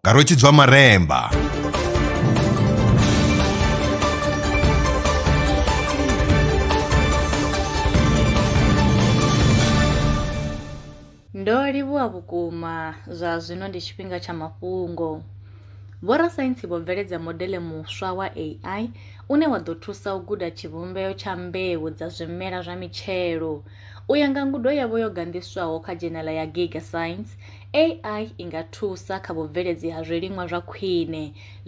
nga rwetshidzwa maremba ndo livhuwa vhukuma zwa zwino ndi tshifhinga tsha mafhungo vhorasaintsi vho bveledza modele muswa wa ai une wa ḓo thusa u guda tshivhumbeo tsha mbeu dza zwimela zwa mitshelo U ya nga ngudo yavho yo ganḓiswaho kha dzhenala ya Giga Science, AI i nga thusa kha vhubveledzi ha zwiliṅwa zwa khwine.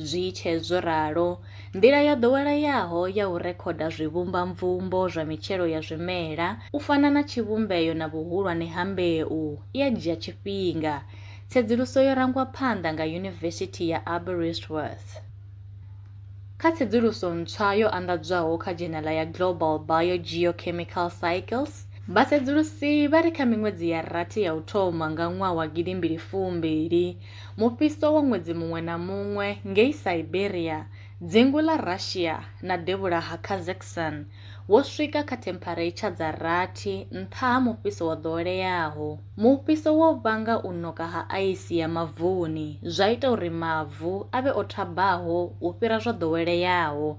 Zwi tshe zwo ralo, nḓila yo ḓoweleaho ya u rekhoda zwivhumbamvumbo zwa mitshelo ya zwimela, u fana na tshivhumbeo na vhuhulwane ha mbeu, i a dzhia tshifhinga. Tsedzuluso yo rangwa phanḓa nga Yunivesithi ya Aberystwyth. Kha tsedzuluso ntswa yo anḓadzwaho kha dzhenala ya Global Biogeochemical Cycles, vhasedzulusi vha ri kha miṅwedzi ya rathi ya u thoma nga ṅwaha wa gidi mbili fu mbili, mufhiso wa ṅwedzi muṅwe na muṅwe ngei Siberia, dzingu ḽa Russia na devhula ha Kazakhstan, wo swika kha themphareitsha dza rathi nṱha ha mufhiso wo ḓoweleaho. Mufhiso wo vhanga u ṋoka ha aisi ya mavuni, zwa ita uri mavu a vhe o thabaho u fhira zwo ḓoweleaho.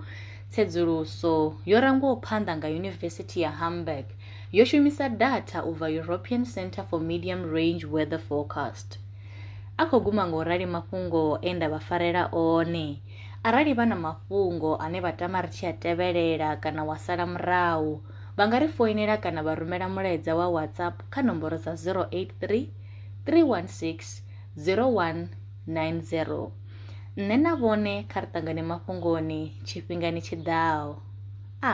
Tsedzuluso yo rangwaho phanḓa nga Yunivesithi ya Hamburg yo shumisa datha u bva European Centre for Medium Range Weather Forecast. A khou guma nga u rali mafhungo e nda vha farela one. Arali vha na mafhungo ane vha tama ri tshi a tevhelela kana wa sala murahu, vha nga ri foinela kana vha rumela mulaedza wa WhatsApp kha nomboro dza 083 316 0190. Nṋe na vhone kha ri ṱangane mafhungoni tshifhingani tshi ḓaho. A.